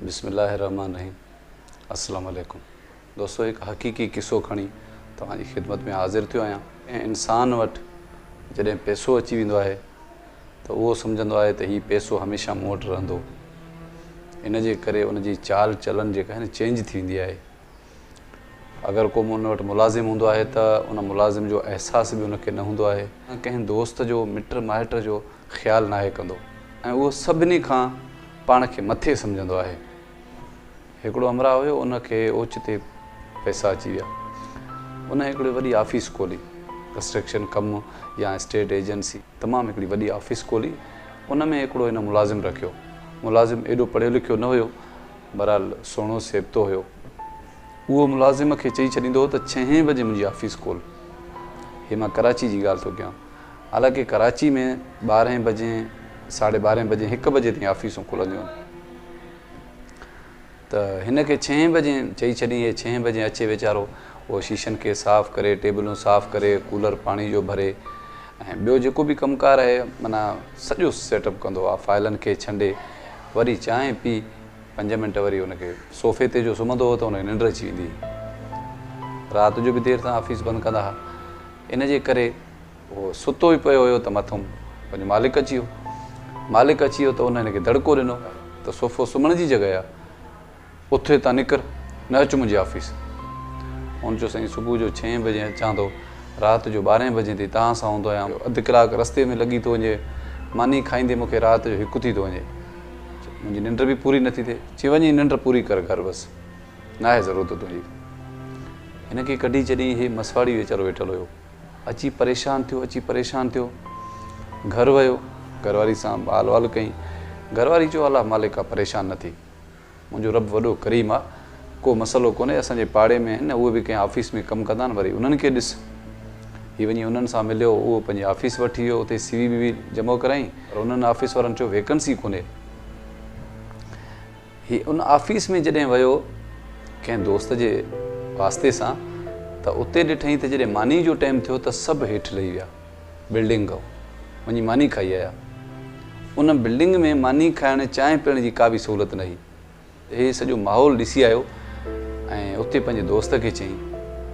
بسم الله الرحمٰن الرحيم السلام عليڪم دوستو هڪ حقيقي قصو کڻي توهان جي خدمت ۾ حاضر ٿيو آهيان ۽ انسان وٽ جڏهن پئسو اچي ويندو آهي ته اهو سمجهندو آهي ته هي پئسو هميشه مون وٽ رهندو ان جي ڪري ان جي چال چلن جيڪا آهي نه چينج ٿي ويندي آهي اگر ڪو مون وٽ ملازم هوندو آهي ته ان ملازم جو احساس به ان کي نه هوندو آهي. ڪنهن دوست جو، مٽ مائٽ جو خيال ناهي ڪندو ۽ اهو سڀني کان پاڻ کي مٿي سمجهندو آهي. هڪڙو همراهه هيو، ان کي اوچتي پئسا اچي ويا. ان هڪڙي وڏي آفيس کولي، ڪنسٽرڪشن ڪم يا اسٽيٽ ايجنسي، تمام هڪڙي وڏي آفيس کولي، ان ۾ هڪڙو هن ملازم رکيو. ملازم ايڏو پڙهيو لکيو نه هيو. بھرحال سهڻو سيبتو ھيو. اھو ملازم کي چئي ڇڏيندو ھو ته ڇهين بجي منھنجي آفيس کول. ھي مان ڪراچي جي ڳالھه ٿو ڪيان. حالانڪه ڪراچي ۾ ٻارهين بجي، ساڍي ٻارهين بجي، ھڪ بجي تائين آفيسون کلنديون آھن. ته ھن کي ڇهين بجي چئي ڇڏين. ھي ڇهين بجي اچي ويچارو اھو شيشن کي صاف ڪري، ٽيبلون صاف ڪري، ڪولر پاڻي جو ڀري ۽ ٻيو جيڪو به ڪم ڪار آھي معنيٰ سڄو سيٽ اپ ڪندو آ. فائلن کي ڇنڊي. وري چانهه پي پنج منٽ وري ان کي صوفي تي جو سمهندو هو ته ان کي ننڊ اچي ويندي هئي. رات جو به دير سان آفيس بند ڪندا ها. ان جي ڪري هو ستو ئي پيو هيو ته مٿئون پنهنجو مالڪ اچي ويو. مالڪ اچي ويو ته ان هن کي دڙڪو ڏنو ته صوفو سمهڻ جي جڳهه اٿ هتان نڪر، نه اچ منهنجي آفيس. هن چيو سائين صبح جو ڇهين بجي اچان ٿو، رات جو ٻارهين بجي تائين توهان سان هوندو آهيان. اڌ ڪلاڪ رستي ۾ لڳي ٿو وڃي، ماني کائيندي مون کي رات جو هڪ ٿي ٿو وڃي. منهنجي ننڊ به پوري نٿي ٿئي. چي وڃ هي ننڊ پوري ڪر گهر بس، ناهي ضرورت تنهنجي. هن کي ڪڍي ڇڏيائين. هي مسواڙي ويچارو ويٺل هيو. اچي پريشان ٿيو، اچي پريشان ٿيو. گهر ويو، گهر واري سان حال احوال ڪيائين. گهر واري چيو الله مالڪ آ، پريشان نه ٿي. منهنجو رب وڏو ڪريم آ ڪو مسئلو ڪونهي اسان جي پاڙي ۾ آهن اهي به ڪنهن آفيس ۾ ڪم ڪندا آهن وري انهن کي ڏس هي وڃي انهن سان مليو اهو پنهنجي آفيس وٽ ايو اتي سي وي بي وي جمع ڪرايئين پر انهن آفيس وارن چيو ويڪنسي ڪونهي هي ان آفيس ۾ جڏهن ويو ڪنهن دوست جي واسطي سان ته اتي ڏٺئين ته جڏهن ماني جو ٽيم ٿيو ته سڀ هيٺ لهي ويا بلڊنگ ڪئو وڃي ماني کائي آيا. ان بلڊنگ ۾ ماني کائڻ چانهه پيئڻ جي ڪا به سهولت نه هئي. هي سڄو ماحول ڏسي آيو ۽ اتي پنهنجي دوست کي چيائين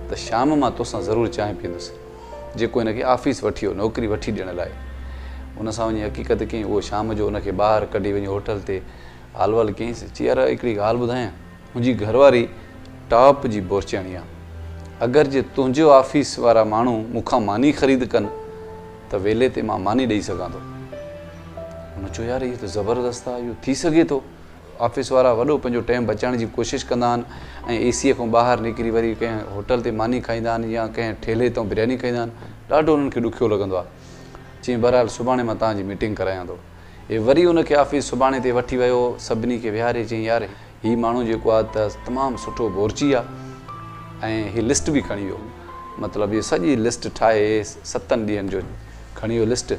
ته شام مان توسان ضرور چانهه پيئندس جيڪو هن کي آفيس وٺي هو نوڪري وٺي ڏيڻ لاء هن سان وڃي حقيقت ڪيائين اهو شام جو هن کي ٻاهر ڪڍي وڃي هوٽل تي هال وال ڪيائينس چي يار هڪڙي ڳالهه ٻڌايان منهنجي گهرواري ٽاپ جي بورچياڻي آ اگر جي تنهنجي آفيس وارا ماڻهو مون کان ماني خريد ڪن ته ويلي تي مان ماني ڏئي سگهان ٿو هن چيو يار هي ته زبردست آ اهو ٿي سگهي ٿو آفيس وارا وڏو پنهنجو ٽيم بچائڻ جي ڪوشش ڪندا آهن ۽ اي سي کان ٻاهر نڪري وري ڪنهن هوٽل تي ماني کائيندا آهن يا ڪنهن ٺيلهي تان برياني کائيندا آهن ڏاڍو انهن کي ڏکيو لڳندو آ چيائين بهرحال سڀاڻي مان توهان جي ميٽنگ ڪرايان ٿو هي وري ان کي آفيس سڀاڻي تي وٺي ويو. سڀني کي ويهاري چيائين، يار هي ماڻهو جيڪو آ ته تمام سٺو بورچي آ ۽ هي لسٽ به کڻي ويو. مطلب اهو سڄي لسٽ ٺاهي ستن ڏينهن جو کڻي ويو لسٽ.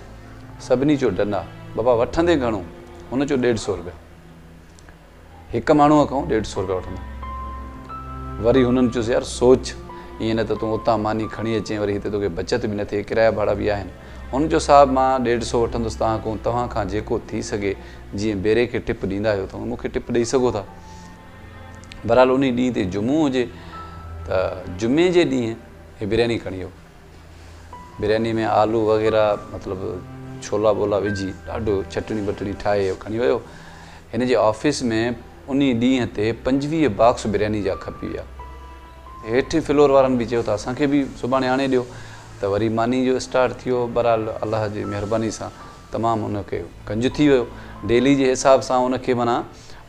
سڀني چيو ڊن آ. بابا وٺندين گهڻو؟ هن چيو ڏيڍ سئو روپيا. هڪ ماڻهوء کان هو ڏيڍ سئو روپيا وٺندو هو. وري هنن چيس، يار سوچ، ائين نه ته تون اتان ماني کڻي اچين، وري هتي توکي بچت به نه ٿئي، ڪرايا ڀاڙا به آهن. هن چيو، صاحب مان ڏيڍ سئو وٺندس تان ڪون، توهان کان جيڪو ٿي سگهي، جيئن بيري کي ٽپ ڏيندا آهيو، توهان مون کي ٽپ ڏئي سگهو ٿا. بهرحال انهيء ڏينهن تي جمعو هجي ته جمعي جي ڏينهن هي برياني کڻي ويو. برياني ۾ آلو وغيره مطلب ڇولا ٻولا وجهي ڏاڍو چٽڻي ٻٽڻي ٺاهي کڻي ويو. هن جي آفيس ۾ انهي ڏينهن تي پنجويهه باڪس برياني جا کپي ويا. هيٺين فلور وارن به چيو ته اسان کي به سڀاڻي آڻي ڏيو ته وري ماني جو اسٽارٽ ٿيو. بهرحال الله جي مهرباني سان تمام ان کي گنج ٿي ويو. ڊيلي جي حساب سان ان کي معنيٰ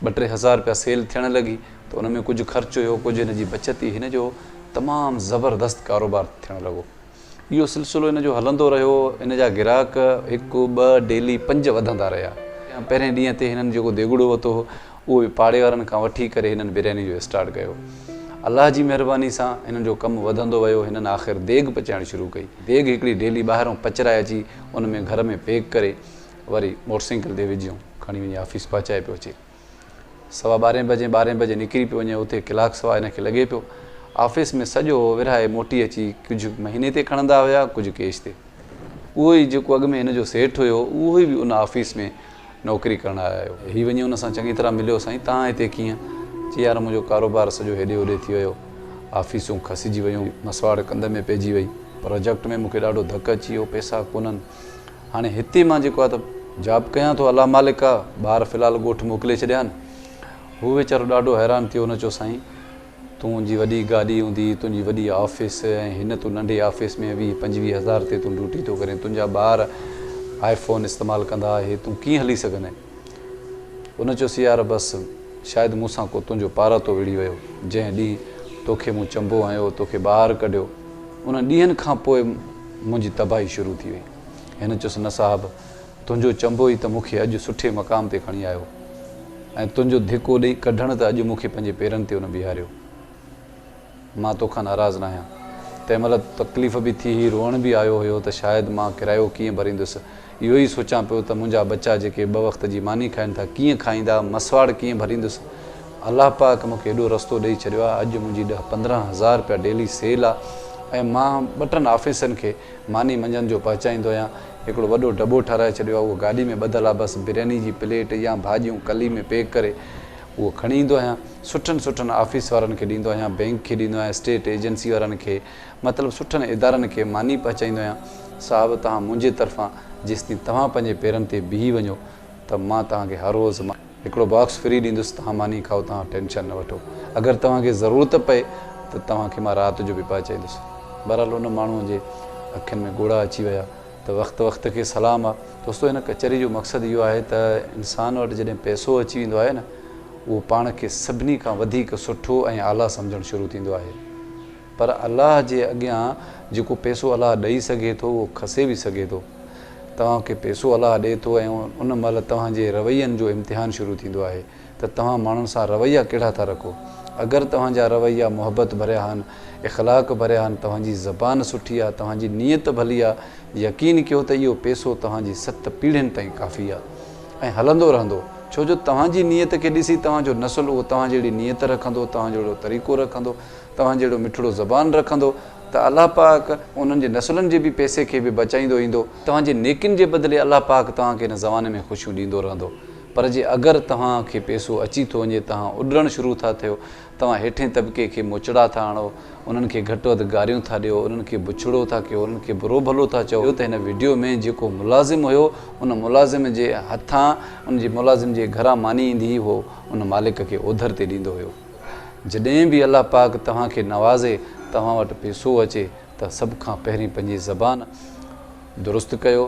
ٻه ٽي هزار رپيا سيل ٿيڻ لڳي. ته ان ۾ ڪجهه خرچ هيو ڪجهه هن جي بچت ئي هن جو تمام زبردست ڪاروبار ٿيڻ لڳو اهو سلسلو هن جو هلندو رهيو هن جا گراهڪ هڪ ٻه ڊيلي پنج وڌندا رهيا پهرين ڏينهن تي هنن جيڪو ديڳڙو وتو هو اهو به پاڙي وارن کان وٺي ڪري هنن برياني جو اسٽارٽ ڪيو الله جي مهرباني سان هنن جو ڪم وڌندو ويو هنن آخر ديڳ پچائڻ شروع ڪئي ديڳ هڪڙي ڊيلي ٻاهرون پچرائي اچي ان ۾ گهر ۾ پيڪ ڪري وري موٽرسائيڪل تي وجهيون کڻي وڃي آفيس پهچائي پيو اچي. سوا ٻارهين بجي ٻارهين بجي نڪري پيو وڃي اتي ڪلاڪ سوا هن کي لڳي پيو آفيس ۾ سڄو ورهائي موٽي اچي ڪجهه مهيني تي کڻندا هيا ڪجهه ڪيش تي اهو ئي جيڪو اڳ ۾ هن جو سيٺ هيو اهو ئي به ان آفيس ۾ نوڪري ڪرڻ آيو هي وڃي ان سان چڱي طرح مليو سائين توهان هتي ڪيئن چي يار منهنجو ڪاروبار سڄو هيڏي هوڏي ٿي ويو آفيسون کسجي ويون مسواڙ ڪنڌ ۾ پئجي وئي پراجيڪٽ ۾ مون کي ڏاڍو ڌڪ اچي ويو پئسا ڪونهن هاڻي هتي مان جيڪو آهي ته جاب ڪيان ٿو الله مالڪ آ ٻار في الحال ڳوٺ موڪلي ڇڏيان هو ويچارو ڏاڍو حيران ٿيو هن چيو سائين تون جي وڏي گاڏي هوندي تنهنجي وڏي آفيس ۽ هن تون ننڍي آفيس ۾ ويهه پنجويهه هزار تي تون ڊيوٽي ٿو ڪرين تنهنجا ٻار آئي فون استعمال ڪندا اهي تون ڪيئن هلي سگهندين ان چيس، يار بس! شايد مون سان ڪو تنهنجو پاراتو وڙهي ويو، جنهن ڏينهن توکي مون چنبو هنيو، توکي ٻاهر ڪڍيو، انهن ڏينهن کان پوء منهنجي تباهي شروع ٿي وئي. هن چيس، نه صاحب! تنهنجو چنبو ئي ته مون کي اڄ سٺي مقام تي کڻي آيو ۽ تنهنجو ڌڪو ڏئي ڪڍڻ ته اڄ مون کي پنهنجي پيرن تي ان بيهاريو. مان توکان ناراض ناهيان. تنهن مهل تڪليف به ٿي هئي، روئڻ به آيو هيو ته شايد مان ڪرايو ڪيئن ڀريندس. اهو ئي سوچان پيو ته منهنجا ٻچا جيڪي ٻه وقت جي ماني کائين ٿا، ڪيئن کائيندا، مسواڙ ڪيئن ڀريندس. الله پاڪ مون کي ايڏو رستو ڏئي ڇڏيو آهي، اڄ منهنجي ڏهه پندرهن هزار رپيا ڊيلي سيل آ ۽ مان ٻه ٽن آفيسرن کي ماني منجهند جو پهچائيندو آهيان. هڪڙو وڏو ڊٻو ٺهرائي ڇڏيو آ، اهو گاڏي ۾ ٻڌل آ، بس برياني جي پليٽ يا ڀاڄيون ڪلي ۾ پيڪ ڪري اهو کڻي ايندو آهيان سٺن سٺن آفيس وارن کي ڏيندو آهيان بئنڪ کي ڏيندو آهيان اسٽيٽ ايجنسي وارن کي مطلب سٺن ادارن کي ماني پهچائيندو آهيان صاحب توهان منهنجي طرفان جيستائين توهان پنهنجي پيرن تي بيهي وڃو ته مان توهان کي هر روز هڪڙو باڪس فري ڏيندس توهان ماني کائو توهان ٽينشن نه وٺو اگر توهان کي ضرورت پئي ته توهان کي مان رات جو به پهچائيندس بهرحال ان ماڻهوء جي اکين ۾ ڳوڙها اچي ويا. ته وقت وقت کي سلام آ. دوستو هن ڪچهري جو مقصد اهو آهي ته انسان وٽ جڏهن پئسو اچي ويندو آهي نه اهو پاڻ کي سڀني کان وڌيڪ سٺو ۽ اعليٰ سمجهڻ شروع ٿيندو آهي پر الله جي اڳيان جيڪو پئسو الله ڏئي سگهي ٿو اهو کسي به سگهي ٿو توهان کي پئسو الله ڏئي ٿو ۽ ان مهل توهان جي روين جو امتحان شروع ٿيندو آهي ته توهان ماڻهن سان رويا ڪهڙا ٿا رکو. اگر توهان جا رويا محبت ڀريا آهن، اخلاق ڀريا آهن، توهان جي زبان سٺي آهي، توهان جي نيت ڀلي آهي، يقين ڪيو ته اهو پيسو توهان جي ست پيڙهين تائين ڪافي آهي ۽ هلندو رهندو، ڇو جو توهان جي نيت کي ڏسي توهان جو نسل اهو توهان جهڙي نيت رکندو، توهان جهڙو طريقو رکندو، توهان جهڙو مٺڙو زبان رکندو ته الله پاڪ انهن جي نسلن جي به پيسي کي به بچائيندو ايندو. توهان جي نيڪين جي بدلي الله پاڪ توهان کي هن زماني ۾ خوشيون ڏيندو رهندو. پر جي اگر توهان کي پيسو اچي ٿو وڃي توهان اڏرڻ شروع ٿا ٿيو، توهان هيٺين طبقي کي موچڙا ٿا هڻو، انهن کي گهٽ وڌ گاريون ٿا ڏيو، انهن کي بڇڙو ٿا ڪيو، انهن کي برو ڀلو ٿا چئو. ٻيو ته هن وڊيو ۾ جيڪو ملازم هيو ان ملازم جي هٿان ان جي ملازم جي گهران ماني ايندي هئي اهو ان مالڪ کي اوڌر تي ڏيندو هيو. جڏهن به الله پاڪ توهان کي نوازي توهان وٽ پيسو اچي ته سڀ کان پهرين پنهنجي زبان درست ڪيو،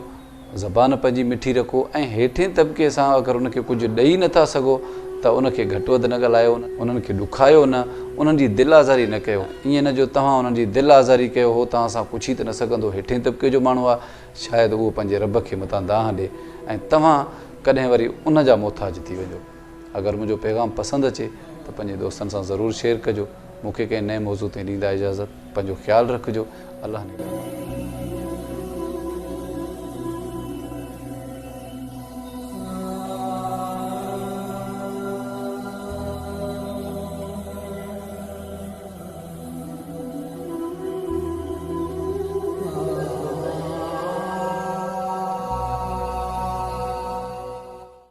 زبان پنهنجي مٺي رکو ۽ هيٺين طبقي سان اگر ان کي ڪجهه ڏئي نه ٿا سگهو ته ان کي گهٽ وڌ نه ڳالهايو، انهن کي ڏکايو نه، انهن جي دل آزاري نه ڪيو، ائين نه جو توهان انهن جي دل آزاري ڪيو، هو توهان سان پڇي ته نه سگهندو هيٺين طبقي جو ماڻهو آهي، شايد اهو پنهنجي رب کي متان دانهن ڏي ۽ توهان ڪڏهن وري ان جا محتاج ٿي وڃو. اگر منهنجو پيغام پسند اچي ته پنهنجي دوستن سان ضرور شيئر ڪجو مون کي ڪنهن نئين موضوع تي ڏيندا اجازت پنهنجو خيال رکجو الله نگهدان